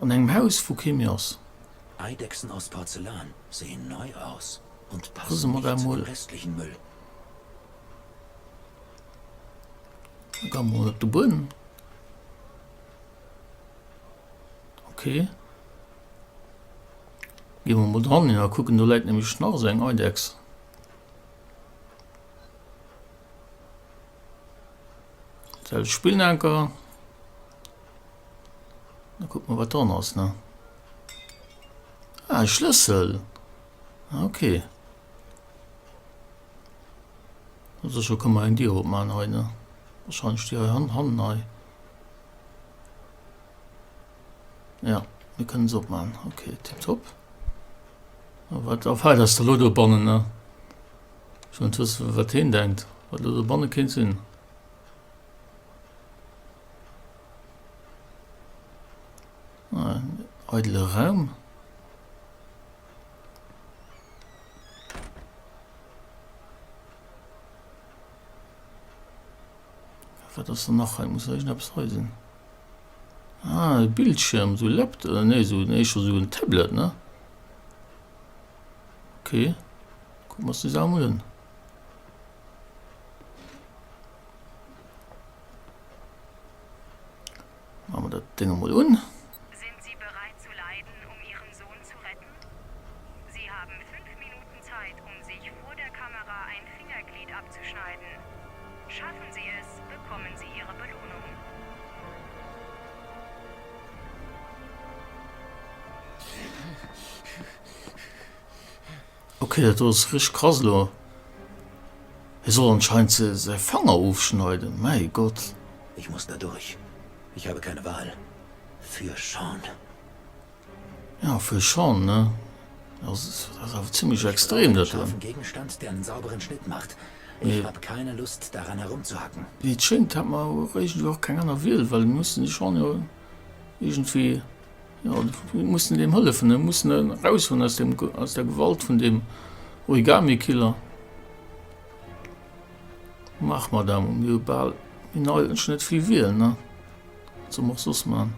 An engem Haus wou kee méi ass. Eidechsen aus Porzellan sehen neu aus und passen nicht zu dem restlichen Müll. Da ga mer mol op de Buedem. Ok. Gi mer mol dran hin a kucken, do läit nämlech nach esou eng Eidechs. Selwecht Spillnker. Da kucke mer wat dran ass ne. Ah, e Schlëssel. Ah, okay. Also scho kann man eng Dier opmachen hei ne. Wahrscheinlech déi hei han hannen hei. Ja, mir kënnen se opmachen. Okay, tipptopp. Ah, wat auf hei ass der lo do bannen ne. Schon wat heen denkt, wat lo do banne kéint sinn. Eidele Raum. Wat ass dann nach hei? Muss irgendeppes hei sinn. Ah, e Bildschirm, so Laptop, äh, nee, so, nee, schon so ein Tablet, ne? Okay. Gucken wir uns das auch mal an. Machen wir das Ding mal un. Sind Sie bereit zu leiden, um Ihren Sohn zu retten? Sie haben fünf Minuten Zeit, um sich vor der Kamera ein Fingerglied abzuschneiden. Schaffen Sie es, bekommen Sie Ihre Belohnung. Ok dat do ass richteg krass elo. Hie soll anscheinend säi Fanger ofschneiden, mäi Gott. Ich muss da durch, ich habe keine Wahl, für Sean. Ja, für Sean, ne? Also dat ass awer zimmlech extrem dat do. Mee wéi et schéngt hat mer awer iergendwéi och keng aner Wiel, well mir mussen de Sean jo iergendwéi. Jo, mir mussen deem hëllefen. Mir mussen en eraushuelen aus deem, aus der Gewalt vun deem Origami-Killer. Maach, Madame, mir hu bal méi nei, ech net vill Wiel, ne? Wat soll mer och soss man?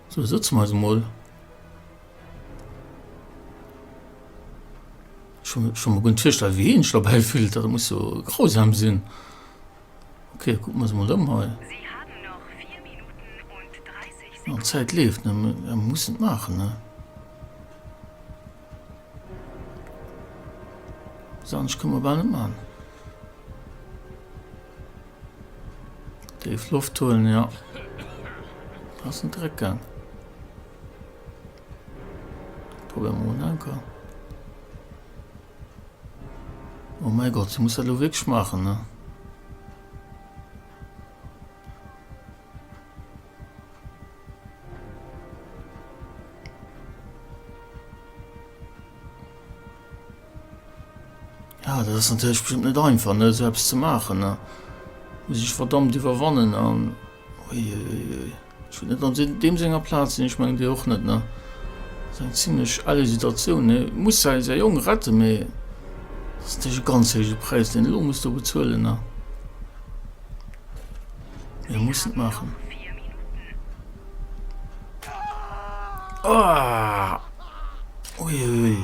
Sou, sëtze mer eis emol. Ech hunn ech hunn mer guer net virstellen, wéi een sech dobäi fillt. Dat muss jo grausam sinn. Ok, kucken mer se mol ëm hei. An d'Zäit leeft net méi, mä mer mussen et maachen, ne? Eppes anescht kënne mer bal net man. Déif Loft huelen, jo. Ass net direkt gaang. Probéiere mer mol en Anker. Oh mäi Gott, se muss dat elo wierklech maachen, ne? Ja, dat ass natierlech bestëmmt net einfach, ne, esou eppes ze maachen, ne? Muss ee sech verdammt iwwerwannen an. Uiuiui. Ech wor net an deem senger Plaz, an ech mengen Dir och net. Ne, et ass eng zimlech elle Situatioun. Ne, e muss säi, säi Jong retten, mee et ass natierlech e ganz héije Präis, deen e lo muss do bezuelen. Ne, mee e muss et maachen. Ooh! Ui, ui, ui!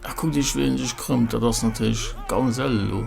A kuckt Iech, wéi en sech krëmmt. Dat ass natierlech ganz elle elo.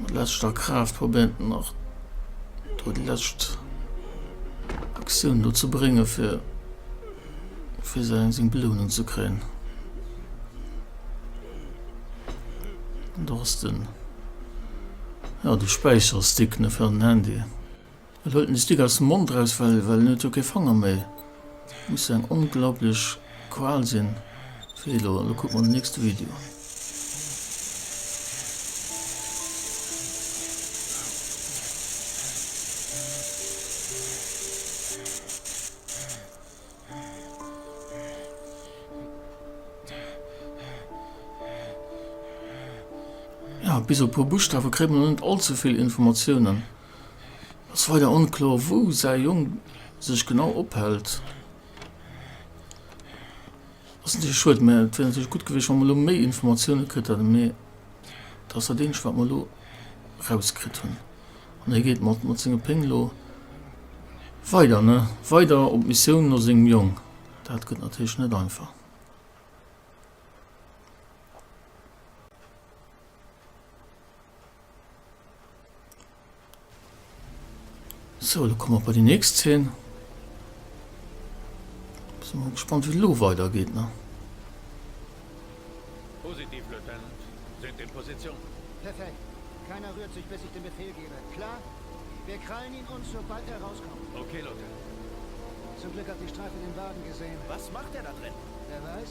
Mat leschter Kraaft probéiert en nach do déi lescht Aktioun do ze bréngen, fir fir seng seng Belounung ze kréien. Do ass den ja de Späicherstick, ne, fir an den Handy. Et huelt en e Stick aus dem Mond raus, well en huet jo kee Fanger méi. Et muss jo eng onglaublech Qual sinn fir hie do. Elo kucke mer den nächste Video. Bis op e puer Buschtawe kréit mer nach net allzevill Informatiounen. Et ass weider onkloer, wou säi Jong sech genau ophält. Ass natierlech schued, mä et wier natierlech gutt gewiescht, wa mer elo méi Informatiounen kritt hätten. Mee dat ass dat eenzegt, wat mer elo erauskritt hunn. An hie geet mat, mat sengem Péng elo weider, ne? Weider op d'Missioun no sengem Jong. Dat gëtt natierlech net einfach. So, da kommen wir bei die nächste Szene. Sind wir gespannt, wie es lo weitergeht. Ne? Positiv, Lieutenant. Sind in Position. Perfekt. Keiner rührt sich, bis ich den Befehl gebe. Klar? Wir krallen ihn uns, sobald er rauskommt. Okay, Lieutenant. Zum Glück hat die Streife den Wagen gesehen. Was macht er da drin? Wer weiß.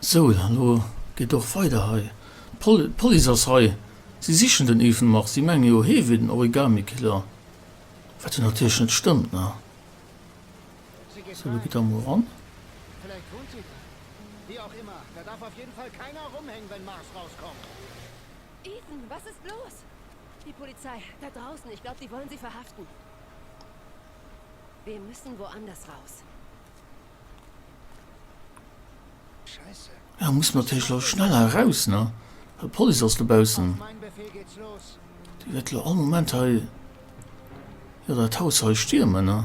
Sou, dann elo geet och weider hei. D'Police ass hei, si sichen den Ethan Mars. Si menge jo, hee wier den Origami-Killer, wat jo natierlech net stëmmt, ne? Sou, elo geet der emol eran. Hei muss mer natierlech elo schnell eraus, ne? Well d'Police ass dobaussen. Déi wäert elo all Moment hei, jo, dat Haus hei stiermen, ne?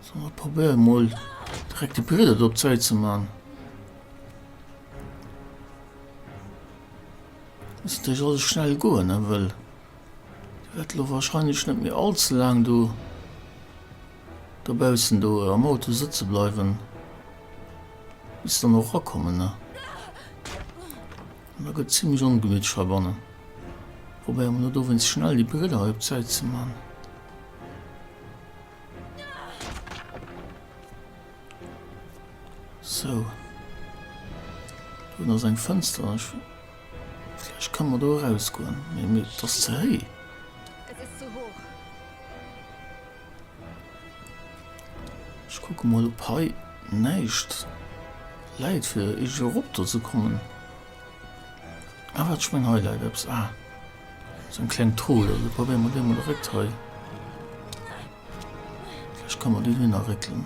So, mer probéieren emol direkt de Brieder do op d'Säit ze maachen. Muss natierlech alles schnell goen, ne? Well Wäert lo wahrscheinlech net méi all ze laang do dobaussen do am Auto sëtze bleiwen, bis se dann och erakommen, ne? An da gëtt et zimlech ongemütlich hei bannen. Probéiere mer lo dowéinst schnell déi Brille hei op d'Säit ze man. Sou. Do hunn ass eng Fënster. Ech kann mer do eraus goen, mee mir et ass ze héi. Et is zu hoch. Ech kucken mol op hei näischt läit fir iergendwéi erop do ze kommen. Ah wat, ech meng hei läit eppes. Ah sou eng kleng Trull, also probéier mer déi mol eréckt hei. Vläicht kann mer déi dohinner réckelen.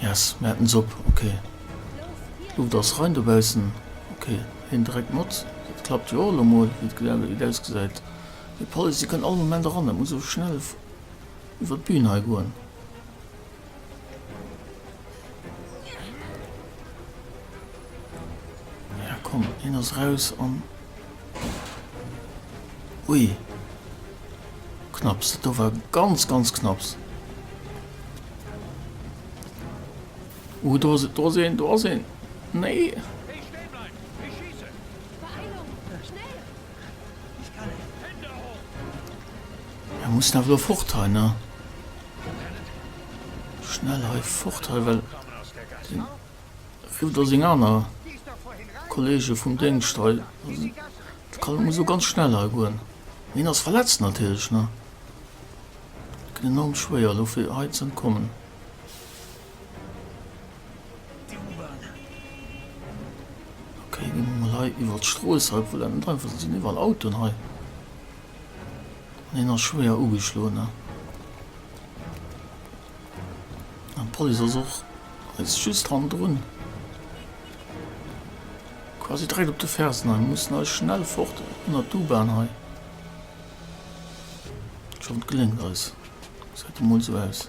Yes, mir haten Sopp, ok. D'Luft ass rein dobaussen, ok. Hien dréckt mat, dat klappt jo och elo mol, wéi et ausgesäit. Mee d'Police, déi kënnt all Moment eran, dat muss elo schnell iwwer d'Bün hei goen. Ja komm, hien ass raus an. Ui. Knapps, dat do war ganz ganz knapps. Uh, do se do sinn, do sinn. Nee. Er muss nach lo fort he ne schnell he fort he well Vu datt seng aner Kolleege vum Déngscht hei sinn. Dat kann emol esou ganz schnell hei goen. Hien ass verletzt natierlech, ne? Dat gëtt enorm schwéier elo fir hei ze entkommen. Okay, ginn emol hei iwwert d'Strooss hei, obwuel dat net einfach ass. Et sinn iwwerall Autoen hei. Hien ass schwéier ugeschloen an d'Police ass och eis just hannendrun, quasi direkt op de Fersen. Hei mussen eis schnell fort ënnert d'U-Bahn hei. Ech hoffen et geléngt eis, gesäit emol esou aus.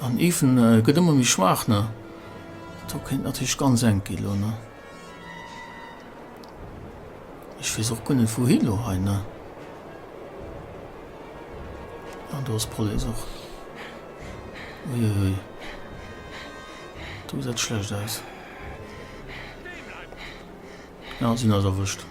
An even gëtt ëmmer méi schwaach ne. Do kéint natierlech ganz enk gi lo ne. Ech weess och guer net wouhi lo hei ne. An do ass Police och. Uiuiui. Do gesäit et schlecht aus. Ja si ass erwëscht.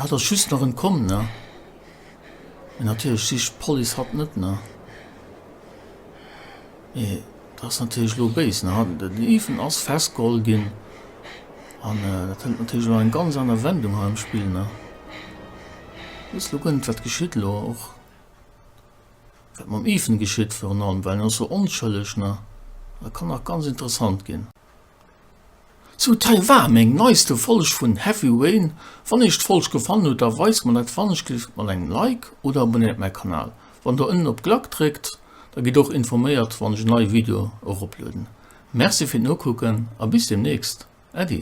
Hatt ass just nach entkomm, ne? Natierlech sicht d'Police hatt net, ne? Mee dat ass natierlech elo béis, ne? De Lieven ass festgeholl ginn an dat hëlt natierlech elo eng ganz aner Wendung hei am Spill, ne? Du weess elo guer net, wat geschitt elo, och wat mam Ethan geschitt virun allem, well en ass esou onschëlleg, ne? Dat kann nach ganz interessant ginn. Zu Taiwan, eng neiste Folg vun Heavy Rain. Wann iech d'Folg gefallen huet da weist mer dat fanneg gelift mat engem Like oder abonnéiert mäi Kanal. Wann der ënnen op Glackt dréckt da gitt och informéiert wann ech en neie Video eroplueden. Merci fir d'Nokucken a bis demnächst. Äddi.